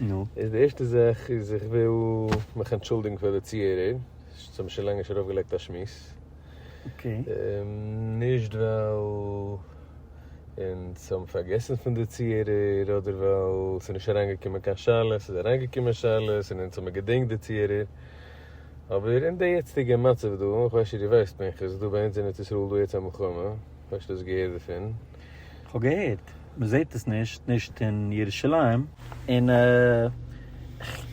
נו. איז די ערשטע זאך איז איך וויל מיך אנטשולדיגן פאר די צוהערער, זיי האבן שוין לאנג נישט ארויפגעלייגט א שמועס. אקעי. נישט ווייל אונז האבן פארגעסן פון די צוהערער, אדער ווייל ס'איז נישט אריינגעקומען קיין שאלות, ס'איז אריינגעקומען שאלות און אונז האבן געדענקט די צוהערער, אבער אין די יעצטיגע מצב דא, איך ווייס נישט דו ווייסט פנחס, איז דא ביי אונז אין ארץ ישראל דא יעצט א מלחמה, האסט שוין דאס געהערט דערפון? כ'האב געהערט. מען זעט עס נישט, נישט אין ירושלים, און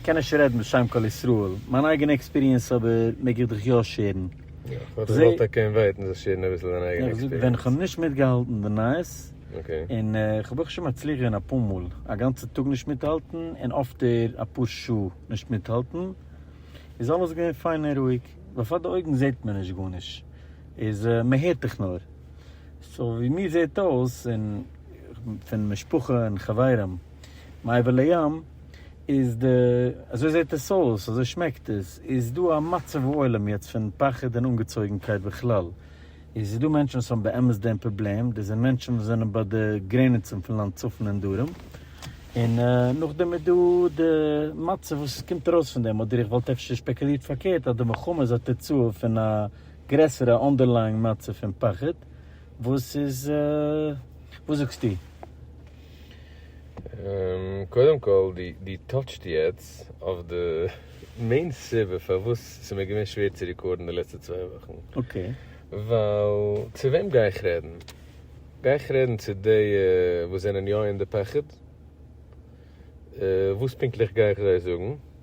כ'קען נישט רעדן בשם כל ישראל, מיין אייגענע עקספיריענס אבער מעג איך דיך יא שערן. יא, כ'וואלט געוואלט ער קען ווייטען זיך שערן אביסל זיין אייגענע עקספיריענס. ווען איך האב נישט מיטגעהאלטן די נייעס, און כ'האב אויך שוין מצליח געווען אפאר מאל א גאנצע טאג נישט מיטהאלטן און אפטער אפאר שעה נישט מיטהאלטן, איז אלעס געווען פיין און רואיג, בעפאר די אויגן זעט מען נישט גארנישט, איז מען הערט דיך נאר. סאו ווי מיר זעהט אויס און פון משפחה און חברים מעבר לים איז די אזוי זעהט עס אויס אזוי שמעקט עס איז דא א מצב העולם יעצט פון פחד און אנגעצויגענקייט בכלל איז איז דא מענטשן וואס האבן באמת דעם פראבלעם דאס זענען מענטשן וואס זענען ביי די גרעניצן פון לאנד צפון און דרום און נאכדעם איז דא די מצב וואס קומט ארויס פון דעם אדער איך וואלט אפשר שפעקולירט פארקערט אז די מלחמה איז א תוצאה פון א. גרעסערע אנדערלייאינג מצב פון פחד וואס איז וואס זאגסטו? קודם כל דו טאטשט יעצט אויף די מעין סיבה פארוואס ס'מיר געווען שווער צו רעקארדן די לעצטע צוויי וואכן, ווייל צו וועם גיי איך רעדן? גיי איך רעדן צו די וואס זענען יא אין די פחד? וואס פונקטליך גיי איך זיי זאגן?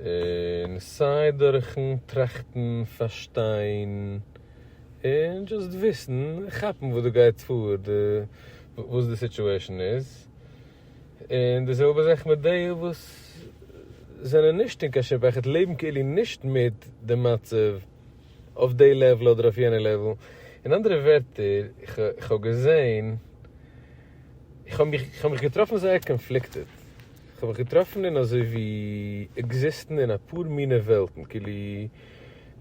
און סיי דורכן טראכטן, פארשטיין, און דזשאסט וויסן, כאפן וואס דא גייט פאר, די וואס די סיטואשען איז, און די זעלבע זאך מיט די וואס זענען נישט אין קיין שום פחד, לעבן כאילו נישט מיט די מצב אויף די לעוול אדער אויף יענע לעוול, אין אנדערע ווערטער, איך האב געזען, איך האב מיך געטראפן זייער קאנפליקטעד. כ'האב מיך געטראפן אין אזוי ווי עקזיסטן אין אפאר מינע וועלטן, כאילו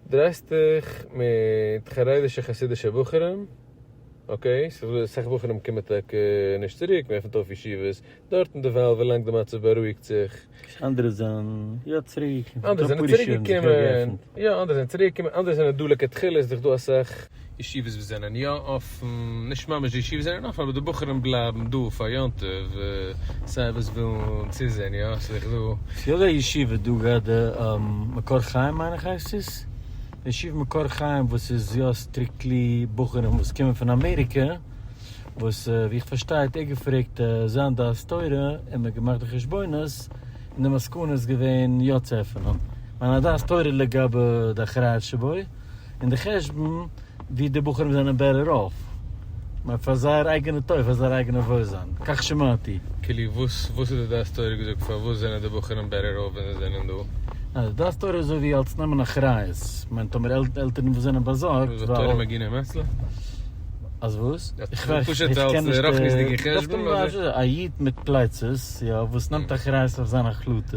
דרייסט דיך מיט חרדישע חסידישע בחורים, אקעי, סאך בחורים קומען טאקע נישט צוריק, מען עפנט אויף ישיבות דארטן דערווייל ווילאנג די מצב בארואיגט זיך, אנדערע זענען יא צוריק, אנדערע זענען צוריק געקומען, יא אנדערע זענען צוריק געקומען, אנדערע זענען דא לכתחלה איז דאך דא אסאך. ישיבות וואס זענען יא אפן, נישט ממש די ישיבות זענען אפן אבער די בחורים בלייבן דא פאר יום טוב, סיי וואס ווילן צוזעהן יא סאיז דאך דא. ס'איז אזא ישיבה דא גראדע די מקור חיים מיין איך הייסט עס, די ישיבה מקור חיים וואס איז יא סטריקטלי בחורים וואס קומען פון אמעריקע, וואס ווי איך פארשטיי האט ער געפרעגט זיין דעת תורה און מ'האט געמאכט די חשבונות און די מסקנה איז געווען יא צו עפענען, מיין א דעת תורה לגבי די אחריות שבו. און די חשבון ווי די בחורים זענען בעטער אףף מער פאר זייער אייגענע טוב פאר זייער אייגענע וואוילזיין כך שמעתי. כאילו וואס וואס איז די דעת תורה געזאגט פארוואס זענען די בחורים בעטער אףף ווען זיי זענען דא? ניין די דעת תורה איז אזוי ווי אלס נעמען אחריות מיינט טאמער עלטערן וואס זענען באזארגט איז דאך תורה מגינא מצלא. אז וואס? איך ווייס נישט איך קען נישט רחניות'דיגע חשבון אדער? א איד מיט פלייצעס יא וואס נעמט אחריות אויף זיינע החלטות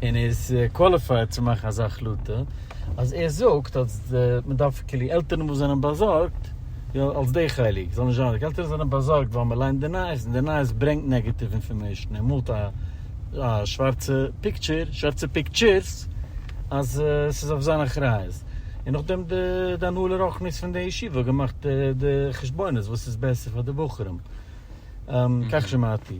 און איז קוואליפייד צו מאכן אזא החלטה. אז ער זאגט אז מען דארף כאילו עלטערן וואס זענען באזארגט, יא אלס די חלק, זאל נישט זיין, עלטערן זענען באזארגט ווייל מען ליינט די נייעס און די נייעס ברענגט נעגעטיוו אינפארמעישן, ער מאלט א א שווארצע פיקטשער, שווארצע פיקטשערס, אז עס איז אויף זיין אחריות, און נאכדעם די די הנהלה רוחנית פון די ישיבה האט געמאכט די חשבונות וואס איז בעסער פאר די בחורים, כך שמעתי.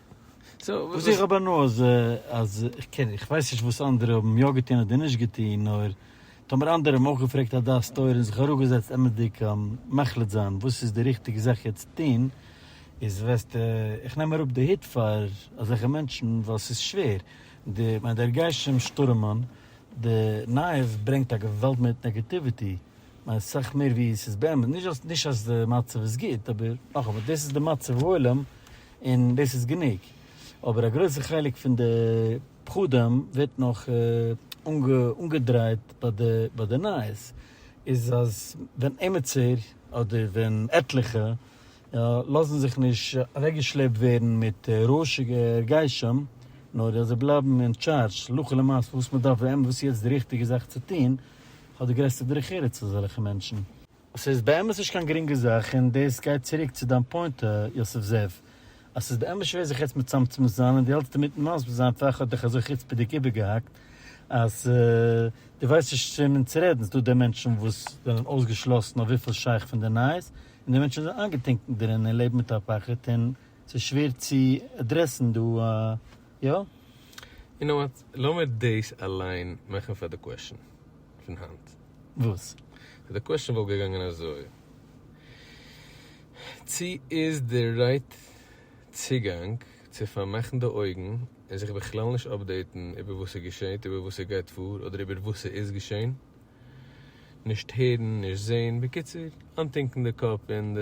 וואס איך האב הנאה אז אז איך קען איך ווייס נישט וואס אנדערע האבן יא געטון אדער נישט געטון נאר טאמער אנדערע האבן אויך געפרעגט א דעת תורה און זיך אראפגעזעצט אמת'דיג מחליט זיין וואס איז די ריכטיגע זאך יעצט צו טון איז וועסטו איך נעם אראפ די הוט פאר אזעלכע מענטשן ווייל ס'איז שווער די מיין דער גשם שטורעמען די נייעס ברענגט א געוואלד מיט נעגעטיוויטי מיין סאך מער ווי ס'איז באמת נישט אז נישט אז די מצב איז גוט אבער נאכאמאל דאס איז די מצב העולם און דאס איז גענוג. אבער א גרויסע חלק פון די פחדים ווערט נאך אנגעדרייט ביי די נייעס, איז אז ווען עימיצער אדער ווען עטליכע יא לאזן זיך נישט אוועקגעשלעפט ווערן מיט רעש'יגע הרגשים, נאר אז זיי בלייבן אין טשארדזש הלכה למעשה וואס מ'דארף ווען וואס איז יעצט די ריכטיגע זאך צו טון, האט די גרעסטע דרך ארץ אזעלכע מענטשן. ס'איז באמת נישט קיין גרינגע זאך, און דאס גייט צוריק צו דיין פוינט יוסף זאב, אז ס'איז באמת שווער זיך יעצט מצמצם זיין, און דו האלטסט אינמיטן מסביר זיין, פאר איך האב דיך אזוי חוצפה'דיג איבערגעהאקט, אז דו ווייסט נישט צו וועמען צו רעדן, ס'דא די מענטשן וואס זענען אויסגעשלאסן אויף וויפיל שייך פון די נייעס, און די מענטשן זענען איינגעטונקן דערין און לעבן מיט א פחד, און ס'איז שווער צו עדרעסן דא, יא? יו נאו וואט, לאמיר דאס אליין מאכן פאר די קוועשאן פון היינט. וואס? די קוועשאן וואלט געגאנגען אזוי, צי איז די רייט צוגאנג צו פארמאכן די אויגן און זיך בכלל נישט אפדעיטן איבער וואס ס'געשעהט, איבער וואס ס'גייט פאר, אדער איבער וואס ס'איז געשעהן? נישט הערן, נישט זעהן, בקיצור, אנטינקן די קאפ אין די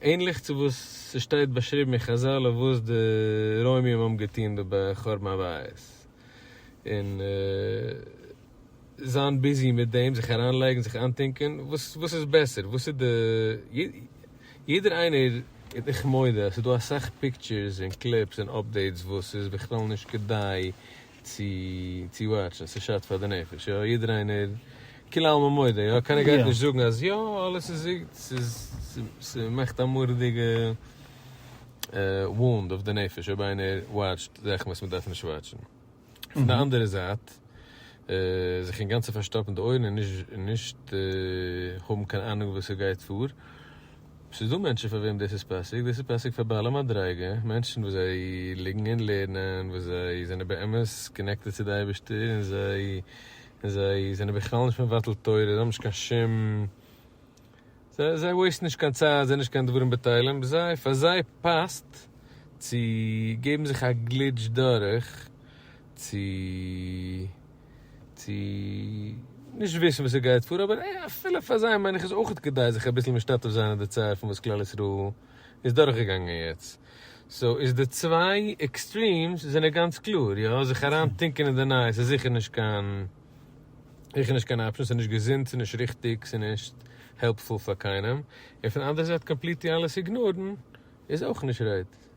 ענליך צו וואס ס'שטייט באשריבן אין חזל אויף וואס די רוימים האבן געטון ב ב חורבן הבית, און זיין ביזי מיט דעם, זיך אריינלייגן, זיך איינטונקען, וואס איז בעסער, וואס איז די, יעדער איינער, איך מודה אז ס'איז דא אסאך פיקטשערס און קליפס און אפדעיטס וואס איז בכלל נישט כדאי צו צו וואטשן ס'שאדט פאר די נפש יא יעדער איינער כולי עלמא מודה יא קיינער גייט נישט זאגן אז יא אלעס איז איז ס'איז ס'מאכט א מורא'דיגע וואונד אויף די נפש אויב איינער וואטשט זאכן וואס מ'דארף נישט וואטשן פון די אנדערע זייט זיך אינגאנצן פארשטאפן די אויערן און נישט האבן קיין אנונג וואס ס'גייט פאר ס'איז דא מענטשן פאר וועם דאס איז פאסיג, דאס איז פאסיג פאר בעלי מדריגה, מענטשן וואס זיי ליגן און לערנען, וואס זיי זענען באמת קאנעקטעד צו די אייבערשטער, און זיי און זיי זענען בכלל נישט מבטל תורה, זיי האבן נישט קיין שום, זיי זיי וועיסטן נישט קיין צייט, זיי זענען נישט קיין דברים בטלים, ב זיי פאר זיי פאסט צו געבן זיך א גליטש דורך צו. צו נישט וויסן וואס עס גייט פאר, אבער אפילו פאר זיי מיין איך איז אויך כדאי זיך אביסל משתתף זיין אין די צער פון וואס כלל ישראל איז דורך געגאנגען יעצט. סאו איז די צוויי עקסטרימס זענען גאנץ קלאר, יא זיך אריין טינקען אין די נייעס איז זיכער נישט קיין זיכער נישט קיין אפשן, ס'איז נישט געזונט, ס'איז נישט ריכטיג, ס'איז נישט העלפפול פאר קיינעם, און פון אנדערע זייט קאמפליטלי אלעס איגנארן איז אויך נישט רייט.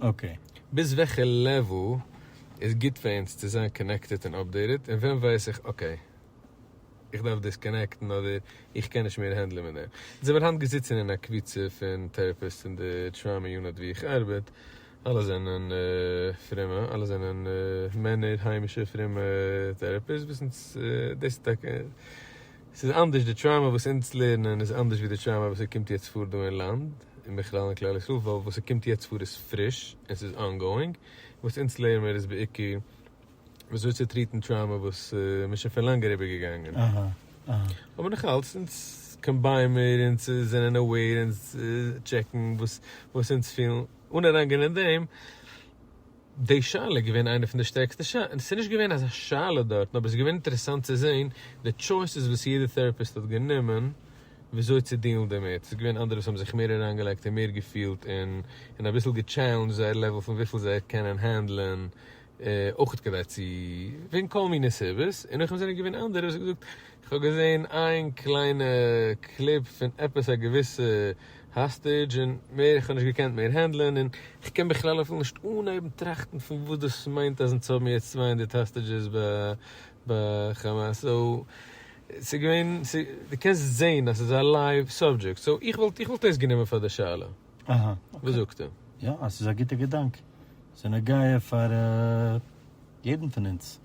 אקעי. ביז וועלכע לעוועל איז גוט פאר אונז צו זיין קאנעקטעד און אפדעיטעד און ווען ווייס איך אקעי איך דארף דיסקאנעקטן אדער איך קען נישט מער הענדלען מיט דעם. זיי זענען היינט געזיצן אין א קבוצה פון טעראפיסטס אין די טראמא יוניט ווי איך ארבעט, אלע זענען פרומע, אלע זענען מענער היימישע פרומע טעראפיסטס, וויסן דאס איז טאקע ס'איז אנדערש די טראומא וואס אונז לערנען איז אנדערש ווי די טראומא וואס ס'קומט יעצט פאר דא אין לאנד, און בכלל אין כלל ישראל, ווייל וואס ס'קומט יעצט פאר איז פריש און ס'איז אנגאואינג, וואס אונז לערן מיר איז בעיקר ווי אזוי צו טריעטן טראומא וואס מ'איז שוין פון לאנג אריבער געגאנגען. אבער נאך אלץ אונז קאמביין מיר, אונז זענען אוועיר, אונז טשעקן וואס אונז פילן, אן אריינגיין אין דעם. די שאלה איז געווען איינע פון די שטערקסטע שא. ס'איז נישט געווען אזא שאלה דארט, נאר ס'איז געווען אינטערעסאנט צו זעהן די טשויסעס וואס יעדע טעראפיסט האט גענומען וויאזוי צו דילן דערמיט. ס'איז געווען אנדערע וואס האבן זיך מער אריינגעלייגט און מער געפילט און און אביסל געטשעלענדזשט זייער לעוועל פון וויפיל זיי קענען הענדלען אויך כדי צו וועגן כל מיני סיבות, און נאכדעם זענען געווען אנדערע וואס האבן געזאגט כ'האב געזעהן איין קליינע קליפ פון עפעס א געוויסע האסטעדזש און מער, איך האב נישט געקענט מער הענדלען און כ'קען בכלל אפילו נישט אנהייבן טראכטן פון וואס דאס מיינט אז אונז האבן יעצט צוויי הונדערט האסטעדזשעס ביי כאמאס סאו ס'איז געווען דו קענסט זעהן אז ס'איז א לייוו סאבדזשעקט סאו איך וואלט איך וואלט עס גענומען פאר די שאלה וואס זאגסטו? יא, עס איז א גוטע געדאנק. ס'איז נוגע פאר יעדן פון אונז.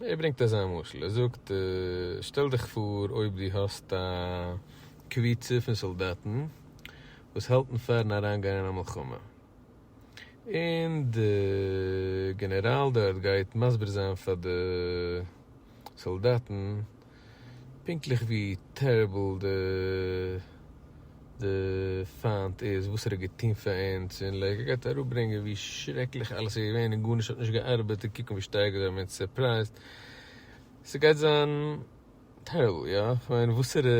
ער ברענגט אזא משל, ער זאגט, שטעל דיך פאר אויב דו האסט א קבוצה פון סאלדאטן וואס האלטן פאר'ן אריינגיין אין א מלחמה, און די גענעראל דארט גייט מסביר זיין פאר די סאלדאטן, פונקטליך ווי טעריבל די די פיינט איז וואס ער האט געטון פאר אונז און לייק ער גייט אראפברענגען ווי שרעקליך אלעס איז געווען און גארנישט האט נישט געארבעט און קוקן ווי שטארק זיי האבן אונז סורפרייזט ס'גייט זיין טעריבל יא כ'מיין וואסערע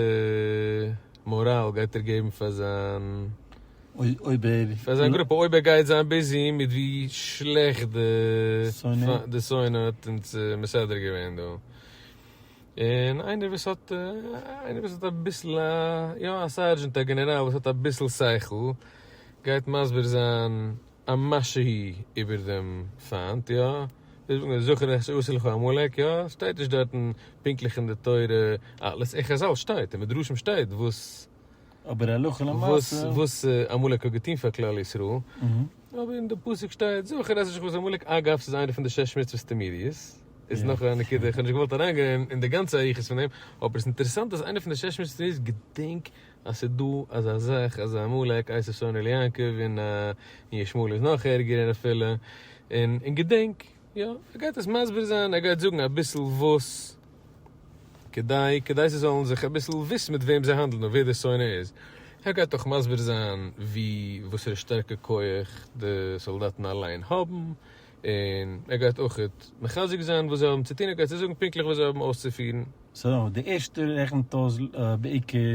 מאראל גייט ער געבן פאר זיין אויב ער פאר זיין גרופע אויב ער גייט זיין ביזי מיט ווי שלעכט די די שונא האט אונז מסדר געווען דא. און איינער וואס האט איינער וואס האט אביסל א יא א סארדזשענט א גענעראל וואס האט אביסל שכל גייט מסביר זיין א משהו איבער דעם פיינט יא ווי זאגט מען זכור איך שעשה לך עמלק יא שטייט נישט דארטן פונקטליך אין די תורה אלעס אין חזל שטייט אין מדרשים שטייט וואס אבער הלכה למעשה. וואס עמלק האט געטון פאר כלל ישראל, אבער אין די פסוק שטייט זכור את עשרת עמלק, אגב ס'איז איינע פון די שש מצוות תמידיות, איז נאך א נקודה, כ'האב נישט געוואלט אריינגיין אין די גאנצע אריכות פון דעם, אבער ס'איז אינטערעסאנט אז איינע פון די שש מצוות תמידיות, געדענק אז ס'איז דא אזא זאך אז עמלק הייסט עשו עני ליעקב, און ישמעאל איז נאך ערגער אפילו, און געדענק. יא, ער גייט עס מסביר זיין, ער גייט זאגן אביסל וואס כדי, כדי זיי זאלן זיך אביסל וויסן מיט וועם זיי האנדלן און ווער די שונא איז, ער גייט אויך מסביר זיין ווי וואסערע שטערקע כח די סאלדאטן אליין האבן, און ער גייט אויך מחזק זיין וואס זיי האבן צו טון, ער גייט זיי זאגן פונקטליך וואס זיי האבן אויסצופירן. סאו די ערשטע רעכנט אויס בעיקר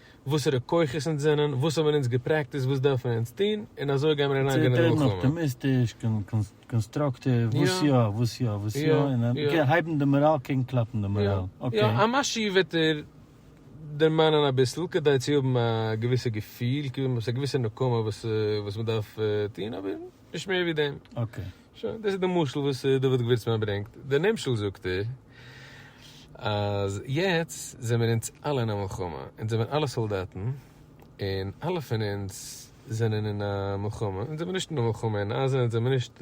וואסערע כוחות אונז זענען, וואס האבן אונז געפרעקטיסט, וואס דארפן מיר אונז טון, און אזוי גייען מיר אריינגיין אין מלחמה. אפטימיסטיש, קאנסטראקטיוו, וואס יא, וואס יא, וואס יא, און אקעי, הייבן די מאראל קעגן קלאפן די מאראל, אקעי. יא, א משהו וועט איר דערמאנען אביסל, כדי צו האבן א געוויסע געפיל, כאילו מ'האט א געוויסע נקמה וואס מ'דארף טון, אבער נישט מער ווי דעם. אקעי. שוין, דאס איז די משל וואס דוד געווירצמאן ברענגט. די נמשל זאגט ער, אז יעצט זעמיר אונז אלע אין א מלחמה, אונז זעמיר אלע סאלדאטן, און אלע פון אונז זענען אין א מלחמה, אונז זעמיר נישט אין א מלחמה, אין עזה אונז זעמיר נישט,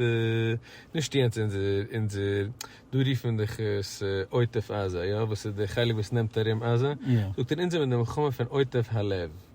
נישט יעצט אונזער, דא רופן דיך עס עוטף עזה, יא, וואס איז די חלק וואס נעמט ארום עזה, זאגט ער, אונז זעמיר אין די מלחמה פון עוטף הלב.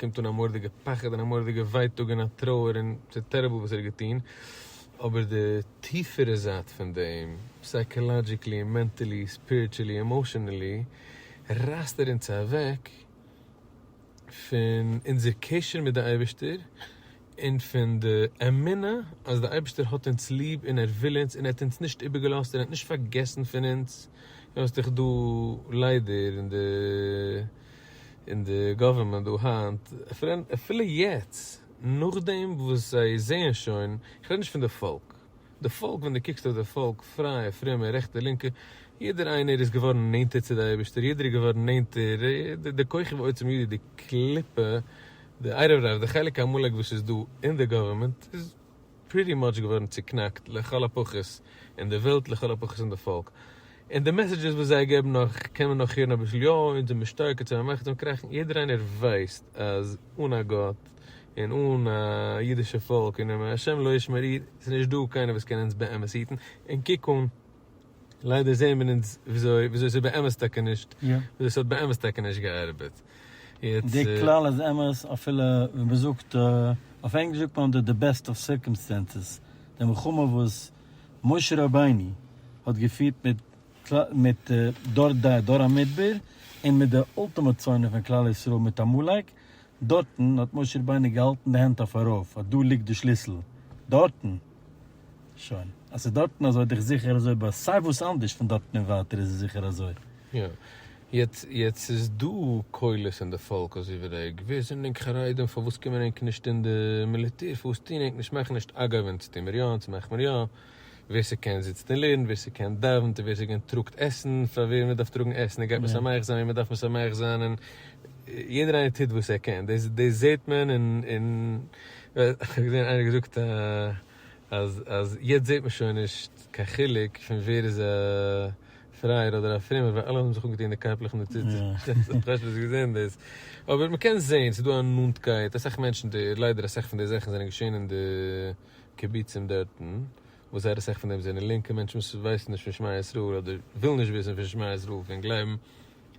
קומט אן א מורדיגע פחד און א מורדיגע ווייטאג און א טרויער און ס'איז טעריבל וואס ער האט געטון, אבער די טיפערע זייט פון דעם, סייקאלאדזשיקלי, מענטעלי, ספיריטשעלי, עמאשענעלי, רייסט ער אונז אוועק פון אונזער קשר מיט די אייבערשטער און פון די אמונה אז די אייבערשטער האט אונז ליב און ער וויל אונז און ער האט אונז נישט איבערגעלאזט און ער האט נישט פארגעסן פון אונז, און וואס האט זיך דא ליידער אין די. אין די גאווערמענט דא היינט, אפילו יעצט נאכדעם וואס זיי זעען שוין, איך רעד נישט פון די פאלק, די פאלק ווען דו קוקסט אויף די פאלק, פרייע, פרומע, רעכטע, לינקע, יעדער איינער איז געווארן נענטער צו די אייבערשטער, יעדער איז געווארן נענטער, די כוכב העצום יהודי, די קליפה, די ערב רב, די חלק עמלק וואס איז דא אין די גאווערמענט איז. פריטי מאטש געווארן צוקנאקט לכל הפחות אין די וועלט לכל הפחות אין די פאלק און די מעסעדזשעס וואס זיי געבן נאך קען מען נאך הערן אביסל יא און זעמיר שטארקער צו באמעכטיגן און קראכן יעדער איינער ווייסט אז אן א גאט און אן א אידישע פאלק און אם השם לא ישמור איד איז נישט דא קיינער וואס קען אונז באמת היטן און קוק אן ליידער זעהן מיר אונז וויאזוי וויאזוי ס'איז באמת טאקע נישט, וויאזוי ס'האט באמת טאקע נישט געארבעט. די כלל איז אמת אפילו ווען מ'זאגט, אויף ענגליש זאגט מען אנדער די בעסט אוו סירקאמסטענסעס, די מלחמה וואס משה רבינו האט געפירט מיט מיט דור די דור המדבר און מיט די אולטימאט שונא פון כלל ישראל מיט עמלק, דארטן האט משה רבינו געהאלטן די הענט אויף ארויף אז דא ליגט די שליסל, דארטן! שוין. אז ס'איז דארטן אזוי דיך זיכער אזוי ביי סיי וואס אנדערש פון דארטן און ווייטער איז עס זיכער אזוי. יא. יעצט יעצט איז דא קולות אין די פאלק אזוי ווי ר' עג. ווער זענען ענק חרדים? פארוואס קומען ענק נישט אין די מיליטער? פארוואס טוהן ענק נישט? מאכן נישט אגב אונז טוה מיר יא אונז מאך מיר יא. ווער ס'קען זיצט און לערנט, ווער ס'קען דאווענט, און ווער ס'קען טראגט עסן פאר ווער מ'דארף טראגן עסן און גייט משמח זיין וועם מ'דארף משמח זיין און יעדער איינער טוט וואס ער קען דאס דאס זעהט מען און און כ'האב געזען איינער געזאגט אז אז יעצט זעט מען שוין נישט קיין חילוק פון ווער איז א פרייער אדער א פרומער ווייל אלע האבן זיך אנגעטון די קאפלעך און די ציצית, כ'האב שוין אביסל געזען דאס, אבער מ'קען זען ס'איז דא א נאנטקייט, אסאך מענטשן די ליידער אסאך פון די זאכן זענען געשען אין די קיבוצים דארטן, וואס זייער אסאך פון דעם זענען לינקע מענטשן וואס ווייסן נישט פון שמע ישראל אדער ווילן נישט וויסן פון שמע ישראל פון גלייבן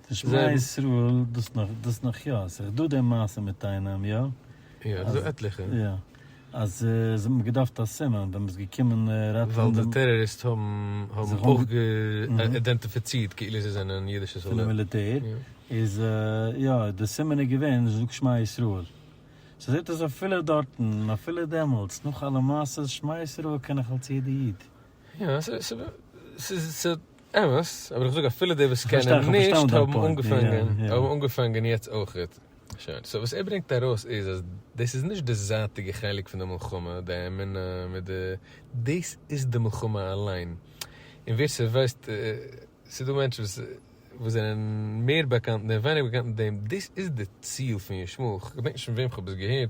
תשמע ישראל דאס נאך דאס נאך יא, עס איז דא די מעשה מיט איינעם יא. יא, עס איז דא עטליכע. יא, אז עס האט מען געדארפט א סימן ווען מען איז געקומען ראטעווען. ווייל די טעראריסט האבן האבן אויך גע אידענטיפיצירט כאילו זיי זענען אידישע סאלדאטן. פונעם מיליטער, איז יא, די סימן איז געווען זאג שמע ישראל. ס'איז זעט אויס אפילו דארטן, אפילו דעמאלטס, נאך אלע מעשות, שמע ישראל קען נאך אלס יעדע איד. יא, ס'איז אמת, אבער איך זאג אפילו די וואס קענען נישט האבן אנגעפאנגען, האבן אנגעפאנגען יעצט אויכעט. שוין, סאו וואס ער ברענגט ארויס איז אז דאס איז נישט די זייטיגע חלק פון די מלחמה, די אמונה מיט די, דאס איז די מלחמה אליין. און ווער ס'ווייסט, ס'איז דא מענטשן וואס זענען מער באקאנט און ווייניגער באקאנט מיט דעם, דאס איז די ציל פון ישמח, כ'געדענק נישט פון וועם כ'האב עס געהערט,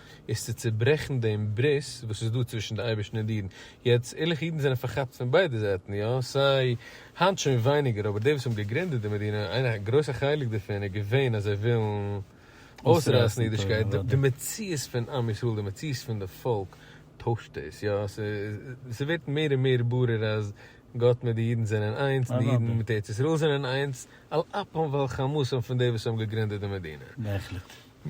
איז צו צוברעכן דעם ברית וואס איז דא צווישן די אייבערשטן און די אידן, יעצט ערליכע אידן זענען פארכאפט פון ביידע זייטן, יא סיי היינט שוין ווייניגער אבער די וואס האבן געגרינדעט די מדינה איין א גרויסע חלק דערפון איז געווען אז זיי ווילן אויסרייסן אידישקייט, די מציאות פון עם ישראל די מציאות פון די פאלק טוישט דאס, יא ס'ווערט מער און מער ברור אז גאט מיט די אידן זענען איינס און די אידן מיט ארץ ישראל זענען איינס על אפם ועל חמתם פון די וואס האבן געגרינדעט די מדינה.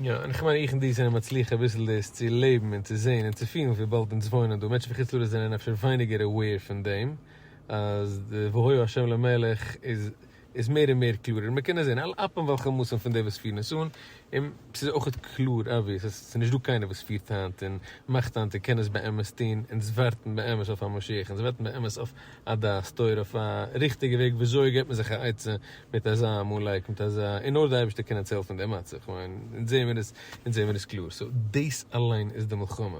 יא, און איך מיין איך און דו זענען מצליח אביסל דאס צו לעבן און צו זען און צו פילן וויבאלד אונז וואוינען דא, מענטשן מחוץ לארץ זענען אפשר ווייניגער aware פון דעם אז די והוי השם למלך איז איז מער און מער קלארער און מען קען עס זען על אפם וועלכע מאסן פון די וואס פירן עס אן און ס'איז אויך קלאר אבוויעס אז ס'איז נישטא קיינער וואס פירט היינט און מאכט היינט און קען עס באמת טון, אונז ווארטן באמת אויף א משיח, אונז ווארטן באמת אויף. א דעת תורה אויף א ריכטיגע וועג וויאזוי געבט מען זיך א עצה מיט אזא עמלק מיט אזא און נאר די אייבערשטער קען אונז העלפן אין די מצב כ'מיין אונז זעהן מיר עס אונז זעהן מיר עס קלאר סאו דאס אליין איז די מלחמה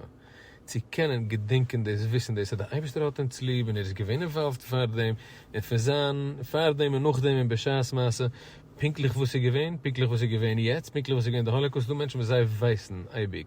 צו קענען געדענקען דאס וויסן דאס אז די אייבערשטער האט אונז ליב און ער איז געווען אינוואלווד פאר דעם און פון זיין פאר דעם און נאך דעם און בשעת מעשה פונקטליך וואס איז געווען פונקטליך וואס איז געווען יעצט פונקטליך וואס איז געווען די האלאקאוסט ס'דא מענטשן וואס זיי ווייסן אייביג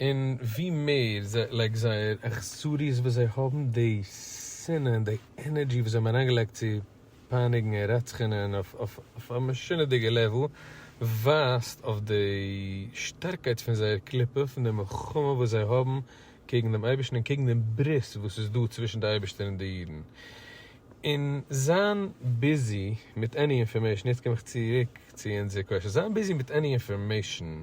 און ווי מער זיי לייגט זייער אכזריות וואס זיי האבן, די שנאה און די ענערדזשי וואס זיי האבן אריינגעלייגט צו פייניגן און רצח'ענען אויף אויף א משונה'דיגע לעוול, ווייזט אויף די שטארקייט פון זייער קליפה, פון די מלחמה וואס זיי האבן קעגן דעם אייבערשטן און קעגן דעם ברית וואס איז דא צווישן די אייבערשטער און די אידן. און זיין ביזי מיט עני אינפארמעישן, יעצט קום איך צוריק צו אונזער קושיא, זיין ביזי מיט עני אינפארמעישן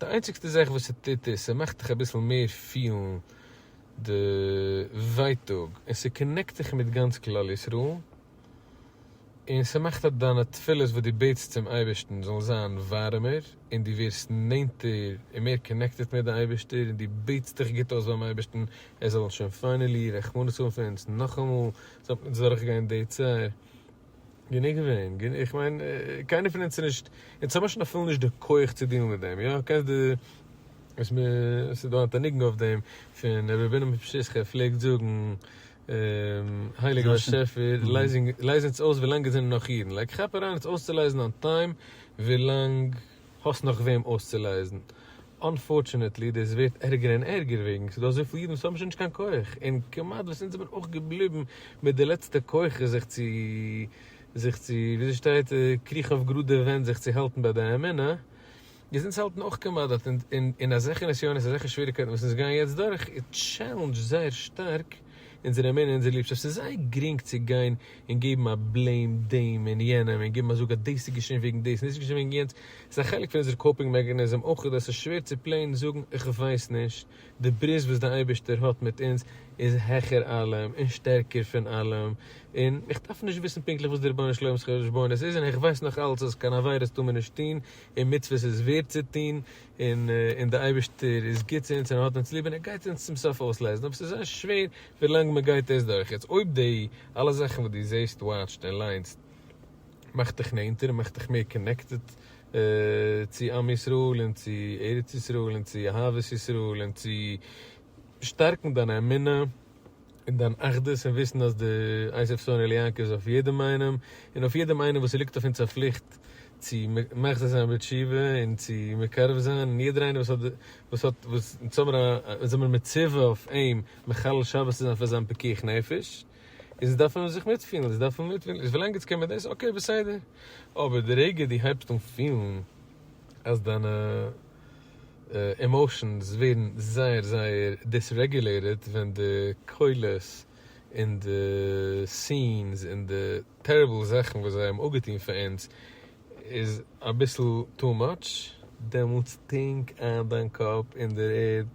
די איינציגסטע זאך וואס ס'טוט איז ס'מאכט דיך אביסל מער פילן די ווייטאג און ס'קאנעקט דיך מיט גאנץ כלל ישראל און ס'מאכט אז דיינע תפילות וואס דו בעטסט צום אייבערשטן זאלן זיין ווארעמער און דו ווערסט נענטער און מער קאנעקטעד מיט די אייבערשטער און דו בעטסט דיך גוט אויס ביים אייבערשטן ער זאל שוין פיינעלי רחמנות האבן פון אונז נאכאמאל זאל מען נישט דורכגיין די צער. גענוג געווען, גענוג, איך מיין, קיינער פון אונז איז נישט, אונז האבן שוין אפילו נישט די כח צו דילן מיט דעם, יא, קענסט די, וואס מ, עס איז דא א ניגון אויף דעם, פון ר' רבינא מפשיסחא פלעגט זאגן, הייליגער באשעפער, לייז אונז אויס ווילאנג עס זענען נאך אידן, לייג כאפ אריין אונז אויסצולייזן אן טיים ווילאנג. האסט נאך וועם אויסצולייזן. אנפארטשענעטלי דאס ווערט ערגער און ערגער וועגן ס'דא אזויפיל אידן וואס האבן שוין נישט קיין כח און כמעט וואס אונז זעמיר אויך געבליבן מיט די לעצטע כוחות זיך צו זיך צו וויאזוי שטייט קריכן אויף גראדע ווענט זיך צו האלטן ביי די אמונה איז אונז האלטן אויך כמעט דארט און אזעלכע נסיונות אזעלכע שוועריקייטן וואס אונז גייען יעצט דורך איז טשעלענדזשד זייער שטארק אונזערע מענער אונזער ליבשאפט ס'איז זייער גרינג צו גיין און געבן א בלעים דעם און יענעם און געבן א זאג אז דאס איז געשען וועגן דאס און דאס איז געשען וועגן יענץ ס'איז א חלק פון אונזער קאופינג מעקאניזם אויך אז ס'איז שווער צו פלעין זאגן איך ווייס נישט די ברית וואס די אייבערשטער האט מיט אונז איז העכער אלעם און שטערקער פון אלעם און איך דארף נישט וויסן פונקטליך וואס די רבונו של עולם'ס חשבונות איז און איך ווייס נאך אלץ אז קיין עבירות טאר מען נישט טון און מצוות איז ווערט צו טון און און דער אייבערשטער איז גוט צו אונז און ער האט אונז ליב און ער גייט אונז צום סוף אויסלייזן אבער ס'איז זייער שווער ווילאנג מען גייט דאס דורך. יעצט אויב די אלע זאכן וואס דו זעסט וואטשט און ליינסט מאכט דיך נענטער און מאכט דיך מער קאנעקטעד צו עם ישראל און צו ארץ ישראל און צו אהבת ישראל און צו שטארקן דיין אמונה, און דיין אחדות און וויסן אז די אייסעף שונא ליעקע איז אויף יעדעם איינעם און אויף יעדעם איינעם וואס ס'ליגט אויף אונז א פליכט צו מחזיר זיין בתשובה און צו מקרב זיין און יעדער איינער וואס האט וואס האט וואס אונז האמער א אונז זעמער מצווה אויף אים מחלל שבת צו זיין פאר זיין פיקוח נפש איז אונז דארפן זיך מיטפילן אונז דארפן מיטפילן איז ווילאנג אונז קעמער דאס אקעי בסדר אבער די רגע די הייבסט אן פילן אז דיינע עמאושענס ווערן זייער זייער דיסרעגולעיטעד ווען די קולות און די סינס און די טעריבל זאכן וואס זיי האבן אפגעטון פאר אונז איז אביסל טו מאטש, דעמאלטס טינק איין דיין קאפ אין דער ערד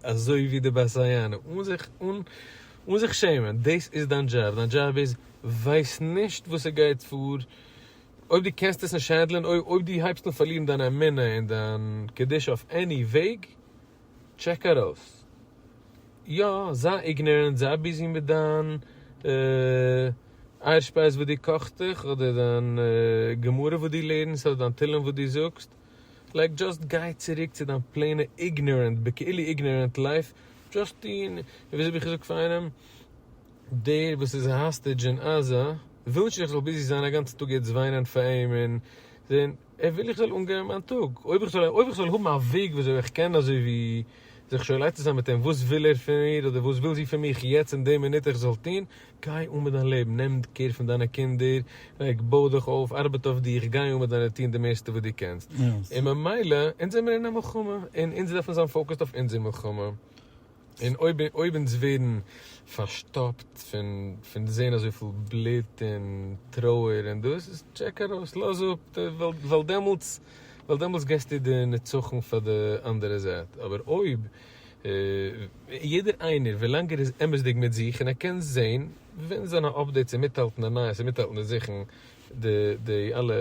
אזוי ווי די בית היענה אן זיך אן זיך שעמען, דאס איז דיין דזשאב, דיין דזשאב איז ווייס נישט וואס ס'גייט פאר אויב דו קענסט עס נישט הענדלען, אויב אויב דו הייבסט אן פארלירן דיין אמונה און דיין קדושה אויף עני וועג, טשעק ארויס. יא, זיי איגנארענט, זיי ביזי מיט דיין אייערשפייז וואס דו קאכסט דיך, אדער דיין גמרא וואס דו לערנסט, אדער דיין תהלים וואס דו זאגסט, לייק דזשאסט גיי צוריק צו דיין פלעינע איגנארענט בכאילו איגנארענט לייף, דזשאסט טון, און וויאזוי האב איך געזאגט פאר איינעם? דער וואס איז א האסטעדזש אין עזה ווילט נישט איך זאל ביזי זיין א גאנצע טאג יעצט וויינען פאר אים און זעהן, ער וויל איך זאל אנגיין מיין טאג, אויב איך זאל אויב איך זאל האבן א וועג ווי אזוי איך קען אזוי ווי זיך שוין עצה זיין מיט אים וואס וויל ער פון מיר אדער וואס וויל זי פון מיך יעצט אין די מינוט איך זאל טון, גיי אן מיט דיין לעבן, נעם קעיר פון דיינע קינדער, לייג בוי דיך אויף, ארבעט אויף דיך, גיי אן מיט דיינע טון די מערסטע וואס דו קענסט, און ממילא אונז זעמיר אין א מלחמה און אונז דארפן זיין פאוקעסד אויף אונזער מלחמה. און אויב אויב אונז ווערן פארשטאפט פון פון זעהן אזויפיל בלוט און טרויער און דאס איז טשעק ארויס לאז אפ די וועלט ווייל דעמאלטס ווייל דעמאלטס געסטו די נצחון פאר די אנדערע זייט אבער אויב יעדער איינער ווילאנג ער איז אמת'דיג מיט זיך און ער קען זעהן ווען זיינע אפדעיטס און מיטהאלטן די נייעס און מיטהאלטן די זאכן די די אלע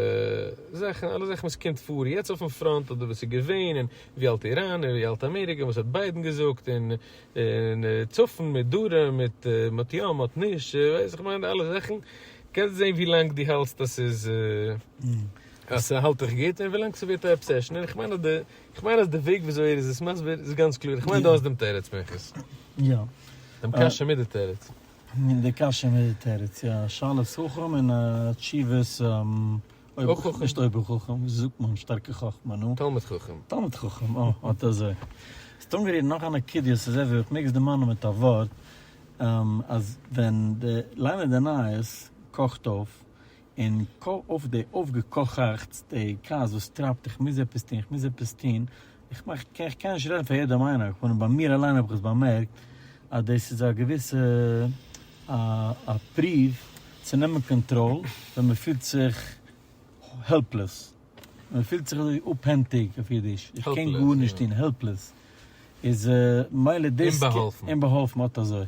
זאכן אלע זאכן וואס קומט פאר יעצט אויפן פראנט אדער וואס איז געווען און ווי האלט איראן און ווי האלט אמעריקע וואס האט ביידן געזאגט און און צפון מיט דרום מיט מ'האט יא מ'האט נישט ווייסט איך מיין די אלע זאכן קענסט זעהן ווי לאנג די האלסט אז ס'איז אז ס'האלט דיך גוט און ווי לאנג ס'ווערט א אבסעשן און כ'מיין אז די כ'מיין אז די וועג ווי אזוי ער איז עס מסביר איז גאנץ קלאר כ'מיין די האסט דעם תירוץ מנחת. יא. דעם קשיא מיט די תירוץ. מין די קשיא מיט תירוץ, יא, א שאלת חכם און א תשובת אויב חכם, נישט אויב חכם, ווי זאגט מען, שטארקע חכמה, נו, תלמוד חכם, תלמוד חכם, אה, אט אזוי, האסט אנגערירט נאך א נקודה, און ס'איז אזוי, אויב כ'מעג עס דערמאנען מיט א ווארט, אז ווען די ליינער די נייעס קאכט אויף, און קאָל אויף די אויפֿגעקוכעכצטע כעס וואָס טרײַבט, איך מוז עפּעס טאָן, איך מוז עפּעס טאָן, איך מאַך, איך קען, איך קען נישט רעדן פֿאַר יעדעם איינעם, אַ כּהנה, בײַ מיר אַליין האָב איך עס באַמערקט, אַז דאָס איז אַ געוויסע, אַ, אַ פּרוּוו צו נעמען קאָנטראָל, ווען מע פֿילט זיך העלפּלעס, ווען מע פֿילט זיך אַזוי אָפּהענטיק, אויף ייִדיש, איך קען גאָרנישט טאָן, העלפּלעס, איז, מילא דאָס, אומבאַהאָלפֿן. אומבאַהאָלפֿן, אָט אַזוי.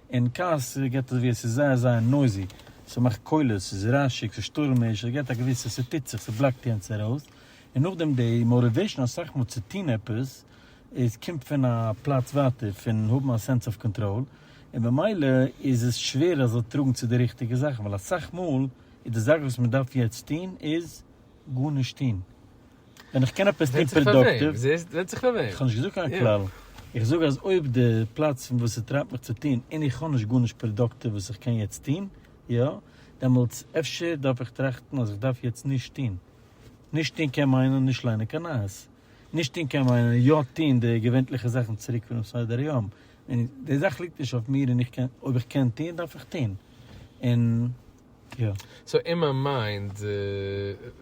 און כעס געט עס ווי עס איז זייער זייער נויזי, ס'מאכט קולות, ס'איז רעשיג, ס'איז שטורעמיש, עס געט א געוויסע, ס'טוט זיך, ס'בלאקט יענץ ארויס, און נאכדעם די מאוטיוועישן אסאך מאל צו טון עפעס איז קומט פון א פלאץ ווייטער פון האבן א סענס אוו קאנטראל, און במילא איז עס שווער עס זאל טראגן צו די ריכטיגע זאכן, ווייל אסאך מאל איז די זאך וואס מ'דארף יעצט טון איז גארנישט טון. ווען איך קען עפעס טון פראדוקטיוו. ווענדט זיך פאר וועם. איך האב נישט געזאגט קיין כלל. איך זאג אז אויב די פלאץ פון וואס ס'טרייבט מיך צו טון און איך האב נישט גארנישט פראדוקטיוו וואס איך קען יעצט טון, יא, דעמאלטס אפשר דארף איך טראכטן אז איך דארף יעצט נישט טון. נישט טון קען מיינען נישט ליינען קיין נייעס. נישט טון קען מיינען יא טון די געווענטליכע זאכן צוריק פונעם סדר היום. און די זאך ליגט נישט אויף מיר און איך קען, אויב איך קען טון דארף איך טון. און. יא. סאו אין מיין מיינד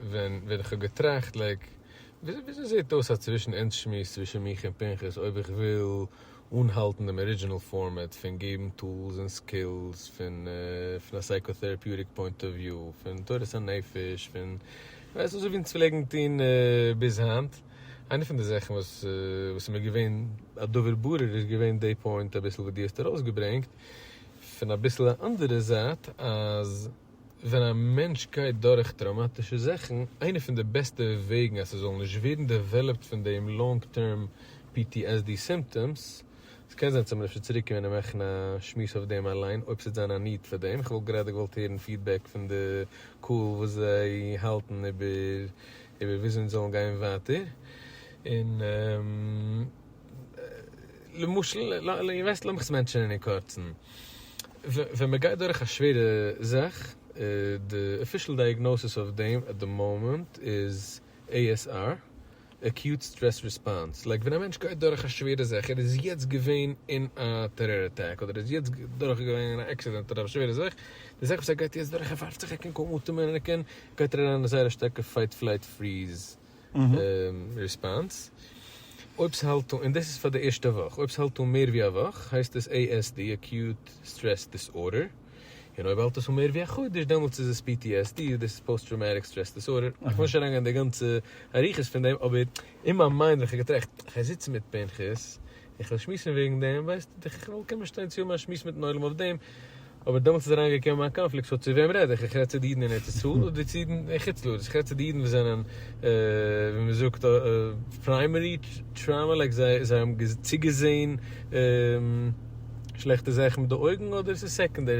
ווען ווען כ'האב געטראכט לייק וויאזוי זעהט אויס א צווישן אונז שמועס צווישן מיך און פנחס אויב איך וויל אנהאלטן דעם ארידזשינעל פארמעט פון געבן טולס און סקילס פון פון א סייקא-טעראפיוטיק פוינט אוו וויו פון תורת הנפש פון ווייסט אזוי ווי אונז פלעגן טוהן ביז היינט איינע פון די זאכן וואס וואס איז מיר געווען א דבר ברור איז געווען די פוינט אביסל וואס דו האסט ארויסגעברענגט פון אביסל א אנדערע זייט אז ווען א מענטש גייט דורך טראומאטישע זאכן איינע פון די בעסטע וועגן אז ס'זאל נישט ווערן דעוועלאפט פון דעם לאנג טערם ptsd סימפטאמס, ס'קען זיין ס'מיר אפשר צוריק קומען און מאכן א שמועס אויף דעם אליין אויב ס'וועט זיין א need פאר דעם, כ'וואלט גראדע געוואלט הערן פידבעק פון די קהל וואס זיי האלטן איבער איבער וויאזוי אונז זאלן גיין ווייטער און. למשל, וועסט לאמיך עס מענטשענען אין קורצן. ווען מען גייט דורך א שווערע זאך, די אפישעל דייעגנאסיס אויף דעם עט די מאמענט איז ASR, Acute Stress Response, לייק ווען א מענטש גייט דורך א שווערע זאך, ער איז יעצט געווען אין א טעראר אטאק, אדער ער איז יעצט דורך געווען אין א עקסידענט אדער א שווערע זאך, די זאך וואס ער גייט יעצט דורך, ער ווארפט זיך, ער קען קוים אטעמען, ער קען, גייט ער אריין אין א זייער א שטארקע פייט פלייט פריז. ריספאנס. אויב ס'האלט אן, און דאס איז פאר די ערשטע וואך, אויב ס'האלט אן מער ווי א וואך הייסט עס ASD, Acute Stress Disorder, און אויב האלט עס אן מער ווי א חודש דעמאלטס איז עס PTSD, און דאס איז פאוסט טראומאטיק סטרעס דיסארדער. איך וויל נישט אריינגיין אין די גאנצע אריכות פון דעם, אבער אין מיין מיינד ווען כ'האב געטראכט, כ'גיי זיצן מיט פנחס, איך וועל שמועסן וועגן דעם, ווייסט דיך איך וועל קומען שטיין צו מאיר שמועסן מיטן עולם אויף דעם, אבער דעמאלטס איז אריין געקומען מיין קאנפליקט סאו צו וועם רעד איך, איך רעד צו די אידן אין ארץ ישראל אדער צו אידן אין חוץ לארץ, איך רעד צו די אידן וואס זענען ווי מען זאגט פריימערי טראומא לייק זיי זיי האבן צוגעזעהן שלעכטע זאכן מיט די אויגן אדער עס איז סעקענדערי.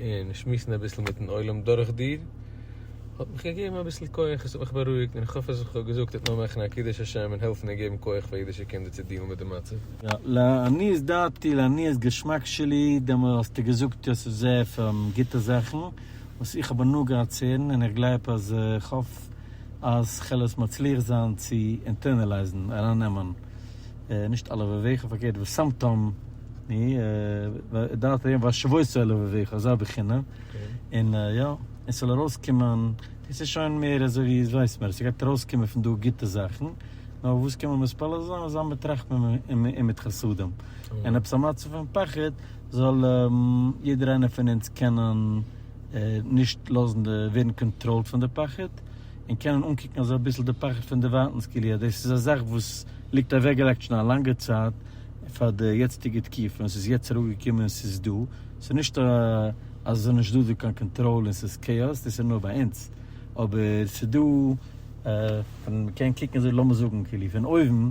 און שמועסן אביסל מיטן עולם דורך דיר האט מיך געגעבן אביסל כח, עס האט מיך בארואיגט און איך האף אז וואס איך האב געזאגט וועט נאר מאכן א קידוש השם און העלפן און געבן כח פאר אידישע קינדער צו דילן מיט די מצב. יא, לעניות דעתי, לעניות געשמאק שלי, דעמאלט האסטו געזאגט יוסף זאב פון גוטע זאכן וואס איך האב הנאה געהאט צו הערן און איך גלייב אז איך האף אז כ'על עס מצליח זיין צו אינטערנעלייזן, ארייננעמען, נישט אלע וועוועכן פארקערט וואס סאמטאם. ני ו דארף ווערן והשבות אל לבביך אזא בחינה און יא עס זאל ארויס קומען דאס איז שוין מער אזוי ווי עס ווייסט מען עס גייט ארויס קומען פון דא גוטע זאכן נאר וואס קען מען מתפלל זיין אזא מיט רחמים און מיט חסדים און עפעס א מצב פון פחד זאל יעדער איינער פון אונז קענען נישט לאזן די ווערן קאנטראלד פון די פחד און קענען אנקוקן אזוי אביסל די פחד פון דערווייטענס כאילו יא דאס איז א זאך וואס ליגט אוועקגעלייגט שוין א לאנגע צייט. פאר די יעצטיגע תקופה און ס'איז יעצט ארויף געקומען און ס'איז דא, ס'איז נישט אז ס'איז נישט דא דא קיין קאנטראל און ס'איז כאאס, דאס איז נאר ביי אונז, אבער ס'איז דא פון מ'קען קוקן אזוי לאמיר זאגן כאילו פון אויבן,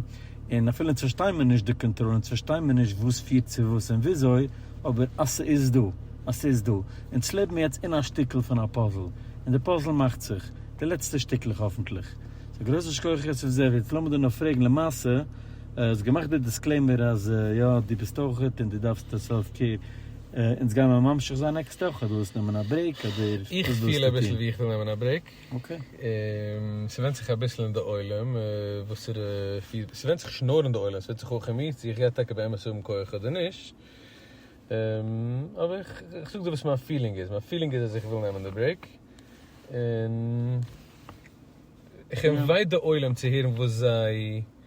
און אפילו אונז פארשטיין מיר נישט די קאנטראל אונז פארשטיין מיר נישט וואס פירט צו וואס און וויאזוי, אבער אז ס'איז דא, אז ס'איז דא, אונז לעבן יעצט אין א שטיקל פון א פאזל, און די פאזל מאכט זיך, די לעצטע שטיקלעך האפנטליך. סאו גרויסע שכויחעס אויף זיך, יעצט לאמיר דיר נאר פרעגן למעשה, האסט געמאכט די דיסקלעימער אז יא דו ביסט אויך גוט און דו דארפסט סעלף קעיר, אונז גיימער ממשיך זיין נעקסטע וואך, דו ווילסט נעמען א ברעיק אדער וואס ווילסטו טון? איך פיל אביסל ווי איך וויל נעמען א ברעיק, ס'ווענד זיך אביסל אין די עולם וואסערע פידבעק, ס'ווענד זיך נישט נאר אין די עולם, ס'ווענד זיך אויך אין מיר צו איך גיי טאקע באמת האבן כח אדער נישט, אבער איך זאג דיר וואס מיין פילינג איז, מיין פילינג איז אז איך וויל נעמען די ברעיק, און איך אינווייט די עולם צו הערן וואס זיי.